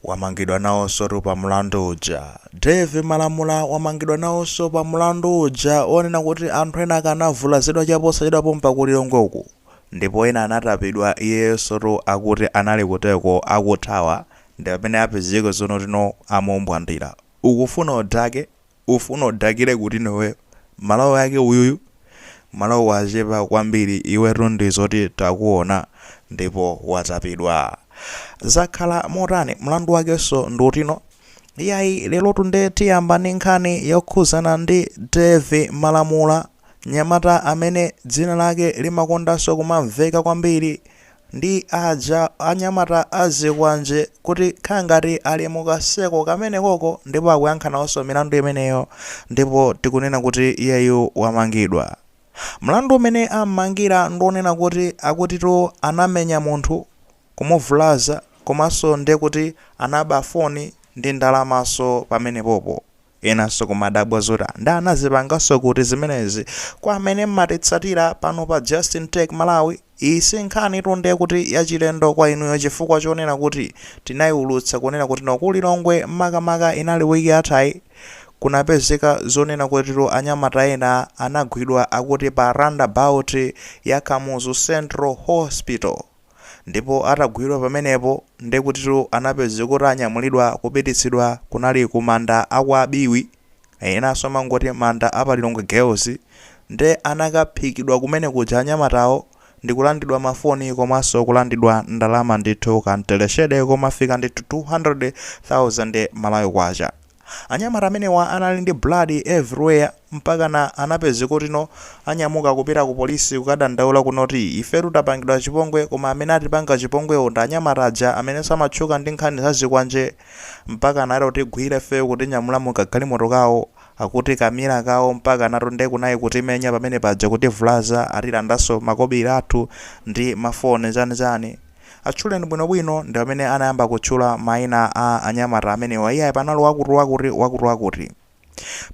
Wamangidwa nawonsotu pa mlandu uja. Dave Malamula wamangidwa nawonso pa mlandu uja wonena kuti anthu ena ake anavulazidwa chaposachedwa pompa ku Lilongwe uku ndipo ena anatapidwa iyeyonsotu akuti anali kuteko akuthawa ndipamene apezeke zonotino amumbwandira. Ukufuna udake? ufuna udakire kutino iwe? Malawi ake uyuyu? Malawi wachepa kwambiri iwetu ndizoti takuona ndipo watapidwa. Zakhala motani? Mlandu wakenso ndi utino? Iyayi lerotu nde tiyamba ndi nkhani yokhuzana ndi Dave Malamula, nyamata amene dzina lake limakondanso kumamveka kwambiri ndi aja anyamata a zikwanje kuti khala ngati ali mu kaseko kamenekoko ndipo akuyankha nawonso milandu imeneyo ndipo tikunena kuti iyeyu wamangidwa. Mlandu umene am'mangira ndi wonena kuti akutitu anamenya munthu, kumuvulaza komanso nde kuti anaba foni ndi ndalamanso pamenepopo. Enanso kumadabwa zoti nde anazipanganso kuti zimenezi? Kwa amene mmatitsatira pano pa Just In Tech Malawi, iyi si nkhanitu nde kuti yachilendo kwa inuyo chifukwa chonena kuti tinaiulutsa kunena kutino ku Lilongwe makamaka inali week yathayi kunapezeka zonena kutitu anyamata ena anagwidwa akuti pa roundabout ya Kamuzu Central Hospital. ndipo atagwidwa pamenepo ndekutitu anapezeka kuti anyamulidwa kupititsidwa kunali ku manda a kwa Biwi enanso amangoti manda a pa Lilongwe girls nde anakaphikidwa kumene kuja anyamatawo ndikulandidwa ma foni komanso kulandidwa ndalama ndithu ka mteleshede komafika ndithu 200,000 Malawi kwacha Anyamata amenewa anali ndi blood everywhere mpakana anapezeka kutino anyamuka kupita ku police kukadandaula kunoti ifetu tapangidwa chipongwe koma amene atipanga chipongwewo ndi anyamata aja amene amatchuka ndi nkhani za zikwanje mpaka anati kutigwira ifeyo kutinyamula mu kagalimoto kawo akuti ka mira kawo mpakanatu nde kunai kutimenya pamene paja kutivulaza atilandanso makobiri athu ndi ma foni chani chani Atchuleni bwinobwino ndi pamene anayamba kutchula maina a anyamata amenewa. Iyayi panali wakutiwakuti, wakutiwakuti.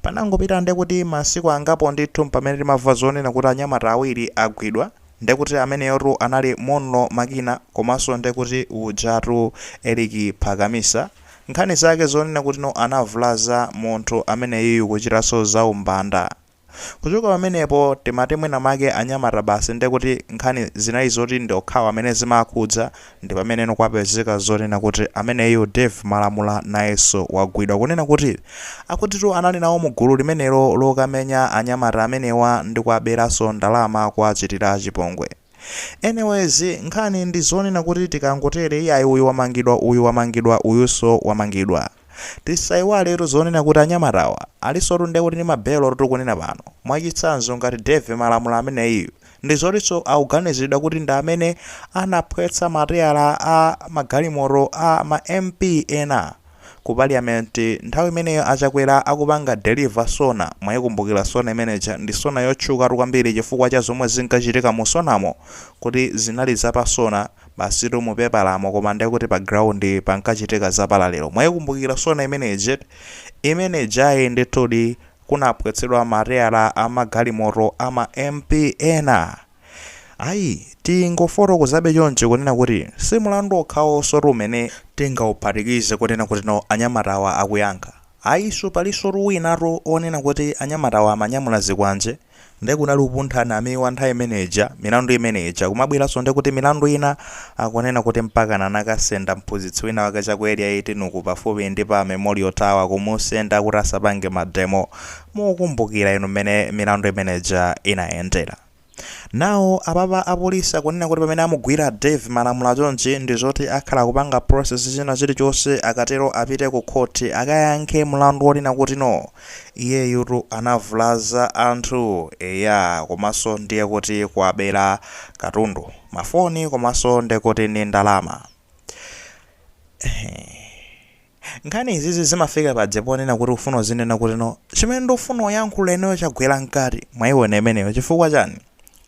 Panangopita nde kuti masiku angapo ndithu mpamene timamva zonena kuti anyamata awiri agwidwa. Nde kuti ameneyotu anali Monlo Makina komanso nde kuti ujatu Eric Phakamisa. Nkhani zake zonena kutino anavulaza munthu ameneyuyu kuchitanso zaumbanda. Kuchoka pamenepo timati mwina make anyamata basi nde kuti nkhani zinali zoti ndi okhawa amene zimakhudza ndi pameneno kwapezeka zonena kuti ameneyu Dave Malamula nayenso wagwidwa kunena kuti akutitu anali nawo mu gulu limenelo lokamenya anyamata amenewa ndi kuwaberanso ndalama kuwachitira chipongwe. Anyways nkhani ndi zonena kuti tikangotere iyayi uyu wamangidwa uyu wamangidwa uyuso wamangidwa. Tisaiwaletu zonena kuti anyamatawa alisotu nde kuti ndi ma bail oti tikunena pano. Mwachitsanzo ngati Dave Malamula ameneyiyu ndi zotinso akuganiziridwa kuti ndi amene anaphwetsa mateyala a magalimoto a ma MP ena. Ku parliament nthawi imeneyo a Chakwera akupanga deliver Sona, mwaikumbukira Sona imene ija? Ndi Sona yotchukatu kwambiri chifukwa cha zomwe zinkachitika mu Sonamo kuti zinali za pa Sona basitu mu pepalamo koma ndekuti pa ground pankachitika za palalero. Mwaikumbukira Sona imene ija? Imene ijayi ndithudi kunaphwetsedwa mateyala a magalimoto a ma MP ena. Ayi, tingofotokozabe chonchi kunena kuti si mlandu okhawosotu umene tingauphatikize kunena kuti no anyamatawa akuyankha. Ayiso palisotu winatu onena kuti anyamatawa amanyamula zikwanje nde kunali upuntha Namiwa nthawi imene ija, milandu imene ija kumabweraso nde kuti milandu ina akunena kuti mpakana anakasenda mphunzitsi wina wake cha ku area 18 uku pafupi ndi pa Memorial Tower kumusenda kuti asapange mademo Muukumbukira inu mmene milandu imene ija inayendera. Now apapa apolisi akunena kuti pamene amugwira Dave Malamula chonchi ndi zoti akhala akupanga process china chilichonse akatero apite ku court akayankhe mlandu wonena kuti no iyeyutu anavulaza anthu eya komanso ndiye kuti kuwabera katundu, mafoni komanso ndekuti ndi ndalama. Eeeh. Nkhani izizi zimafika paja ponena kuti ufuna uzinena kuti no chimene ndufuna uyankhula ineyo chagwera mkati mwayiwona imeneyo chifukwa chani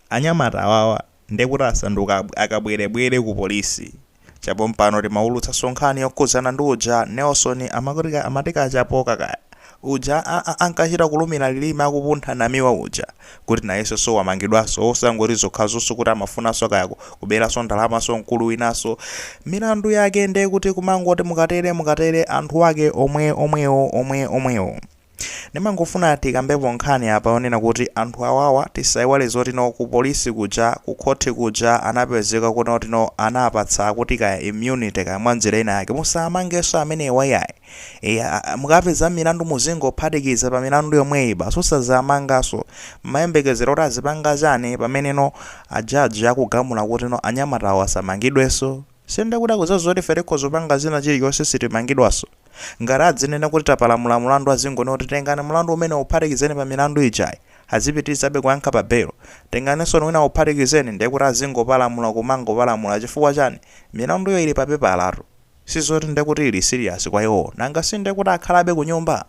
anyamata awawa ndekuti asanduka akabwerebwere ku polisi chapompano timawulutsaso nkhani yokhuzana ndi uja Nelson amati Kachapoka kaya uja a a ankachita kulumira lilime akupuntha Namiwa uja kuti nayenso so wamangidwanso osangoti zokhazonso kuti amafunanso kaya ku kuberanso ndalamanso mkulu winanso milandu yake nde kuti kumangoti mukatere mukatere anthu ake omwe omwewo omwe omwewo ndimangofuna tikambepo nkhani apa yonena kuti anthu awawa tisaiwale zoti no ku polisi kuja ku khoti kuja anapezeka kuti no anapatsa kuti kaya immunity kaya mwanjira ina yake musamangenso amenewa yayi Eya, mukapeza milandu muzingophatikiza pa milandu yomweyi basi osazamanganso mmayembekezera kuti azipanga chani pamene no a judge akugamula kuti no anyamatawo asamangidwenso si ndekuti akudziwa zoti ife tikhoza kupanga china chilichonse sitimangidwanso ngati adzinena kuti tapalamula mulandu azingonena kuti tengani mulandu umenewo uphatikizeni pa milandu ijayi azipitirizabe kuyankha pa belo tenganinsoni winawo uphatikizeni ndekuti azingopalamula kumangopalamula chifukwa chani milanduyo ili pa pepalatu Sizoti nde kuti ili serious kwa iwowo nanga si nde kuti akhalabe kunyumba?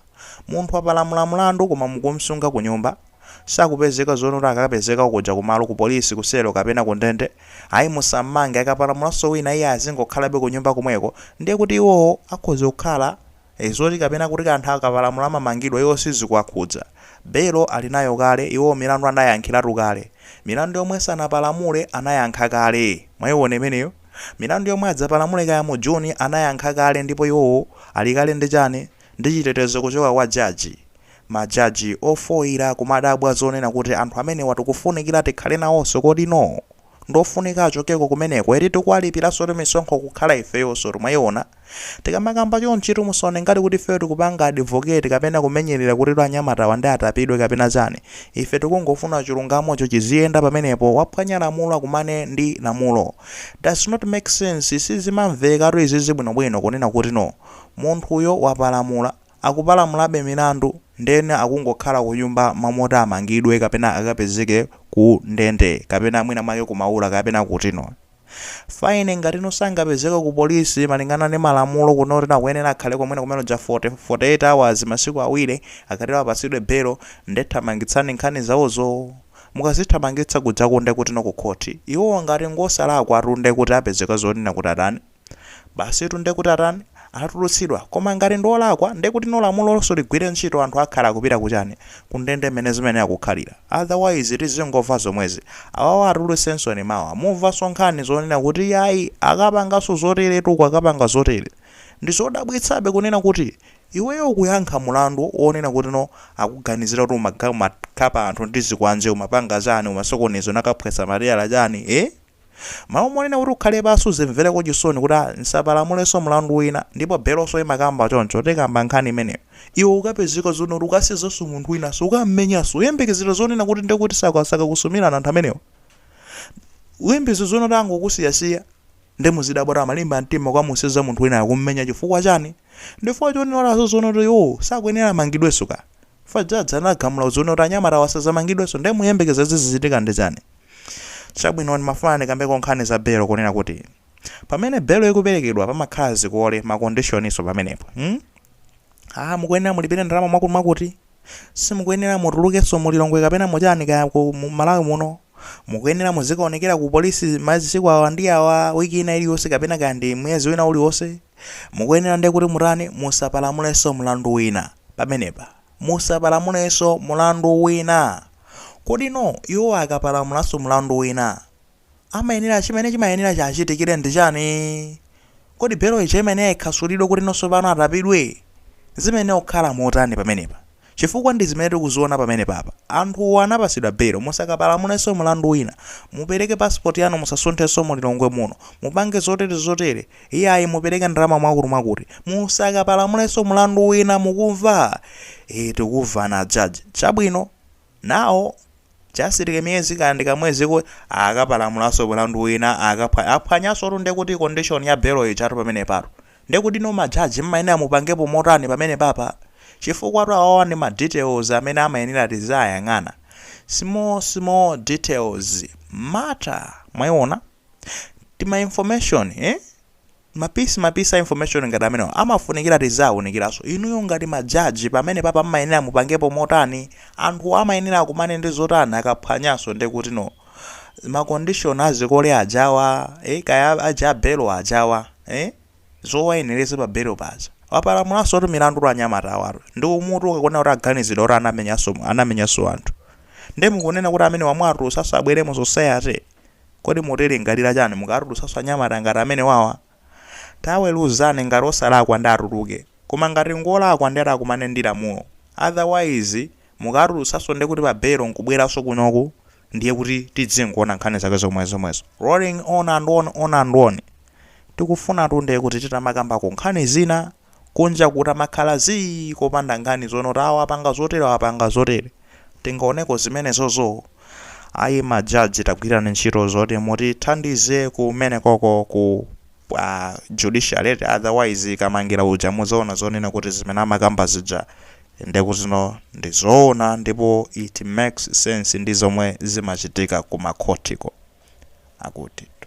Munthu wapalamula mulandu koma mukumsunga kunyumba? Sakupezeka zoona kuti akapezeka kuja kumalo ku polisi ku selo kapena ku ndende? Ayi musammange akapalamulanso wina iye azingokhalabe kunyumba komweko ndiye kuti iwowo akhoza kukhala e zoti kapena kuti anthu akapalamula amamangidwa iwo sizikuwakhudza. Belo ali nayo kale, iwowo milandu anayankhiratu kale. Milandu yomwe sanapalamule anayankha kale. Mwaiona imeneyo? Milandu yomwe adzapalamule kaya mu Juni anayankha kale ndipo iwowo ali kale ndi chani? Ndi chitetezo kuchoka kwa jaji. Ma jaji ofoira kumadabwa zonena kuti anthu amenewa tikufunikira tikhale nawonso kodi no? ndiofunika achokeko kumeneko eti tikuwalipiransotu misonkho kukhala ifeyonsotu mwaiona tikamakamba chonchitu musaone ngati kuti ifeyo tikupanga advocate kapena kumenyelera kuti anyamatawa nde atapidwe kapena chani ife tikungofuna chilungamocho chiziyenda pamenepo waphwanya lamulo akumane ndi lamulo does not make sense sizimamvekatu izizi bwinobwino kunena kuti no munthuyo wapalamula Akupalamulabe milandu ndiyeno akungokhala kunyumba mmalo moti amangidwe kapena akapezeke ku ndende kapena mwina mwake ku maula kapena kutino fine ngatino sangapezeke ku polisi malingana ndi malamulo kuno kutino akuyenera akhale ko mwina kumene kuja 48 hours masiku awiri akatero apatsidwe belo nde thamangitsani nkhani zawozo mukazithamangitsa kujaku nde kutino ku khoti iwo ngati ngosalakwatu nde kuti apezeka zonena kuti atani Basitu ndekuti atani? Atulutsidwa. Koma ngati ndi olakwa ndekuti no lamulonso ligwire ntchito anthu akhala akupita ku chani? Ku ndende mmene zimayenera kukhalira. Otherwise tizingomva zomwezi. Awawa atulutsensoni mawa mumvanso nkhani zonena kuti yayi akapanganso zotere uku akapanga zotere. Ndi zodabwitsabe kunena kuti iweyo ukuyankha mulandu wonena kuti no akuganizira kuti umaga umakhapa anthu ndi zikwanje umapanga chani umasokoneza unakaphwetsa matayala chani eeh? Mmalo monena kuti ukhale basi uzimveleko chisoni kuti a nsapalamuleso mulandu wina ndipo beloso imakamba choncho tikamba nkhani imeneyo iwe ukapezeka zoona kuti ukazunzaso munthu winaso ukammenyaso uyembekezera zonena kuti ndekuti sakakusumilani anthu amenewa uyembezera zoona kuti angokusiyasiya nde muzidabwa kuti amalimba mtima kukamuzunza munthu winayo kummenya chifukwa chani ndifukwa chonenaso zoona kuti iwowo sakuyenera amangidweso kaya chifukwa jaji anagamula zoona kuti anyamatawa asazamangidweso nde muyembekeza zizichitika ndi chani? Chabwino, ndimafuna ndikambeko nkhani za belo, kunena kuti pamene belo ikuperekedwa pamakhala zikole, makondishoniso pamenepo. Hmm? Ah, mukuyenera mulipire ndalama mwakuti mwakuti. Simukuyenera mutulukenso mu Lilongwe kapena muchani kaya ku mu Malawi muno. Mukuyenera muzikaonekera ku polisi masiku awa ndi awa, wiki ina iliyonse kapena kaya ndi mwezi wina uliwonse. Mukuyenera ndiye kuti mutani, musapalamulenso mlandu wina pamenepa. musapalamulenso mlandu wina. Kodino iwo akapalamulanso mlandu wina, amayenera chimene chimayenera chichitike ndi chani? Kodi belo ija imayenera ikhasulidwe kutino tsopano atapidwe? Zimayenera kukhala motani pamenepa? Chifukwa ndi zimene tikuziona pamenepapa, anthuwo anapatsidwa belo, musakapalamulenso mlandu wina, mupereke passport yanu musasunthenso mu Lilongwe muno, mupange zotere zotere, Iyayi mupereke ndalama mwakuti mwakuti. Musakapalamulenso mlandu wina mukumva? Eeh tikuvana judge. Chabwino. Now just like miyezi kaya ndi kamweziko akapalamulanso mlandu wina akaphwanya aphwanyansotu ndekuti condition ya bail ijatu pamenepatu. Ndekutino ma judge mmayenera mupangepo motani pamenepapa? Chifukwatu awawa ndi ma details amene amayenera tiziayang'ana. Small small details matter. Mwaiona? tima information eh? mapisi mapisi a information ngati amenewa amafunikira tizaunikiranso inuyo ngati majaji pamene papa mmayenera mupangepo motani anthu amayenera akumane ndi zotani akaphwanyanso ndi kuti no makondishoni azikole ajawa eh, kaya aja belo ajawa eh? zowayenereza pa belo paja wapalamulanso kuti milandu anyamata awatu ndi umbutu ukakuona kuti aganizidwa kuti anamenyanso anamenyanso anthu nde mukunena kuti amenewa mwatu asabweremo society Kodi mutilingalira chani mukatulutsanso anyamata ngati amenewawa? Taweluzani ngati osalakwa nde atuluke koma ngati ngolakwa nde atakumane ndi lamulo otherwise mukawatulutsanso ndekuti pa belo nkubweranso kunoku ndiye kuti tidzingoona nkhani zake zomwe zomwezo rolling on and on on and on tikufunatu ndekuti titamakambako nkhani zina Kunja kutamakhala zii kopanda nkhani zonena kuti awa apanga zotere awa apanga zotere. Tingaoneko zimenezozo? Ayi ma judge tagwirani ntchito zoti mutithandize kumenekoko ku judiciary eti otherwise Kamangira uja mudzaona zonena kuti zimene amakamba zija ndekutino ndi zoona ndipo it makes sense ndi zomwe zimachitika ku makhotiko. Akutitu.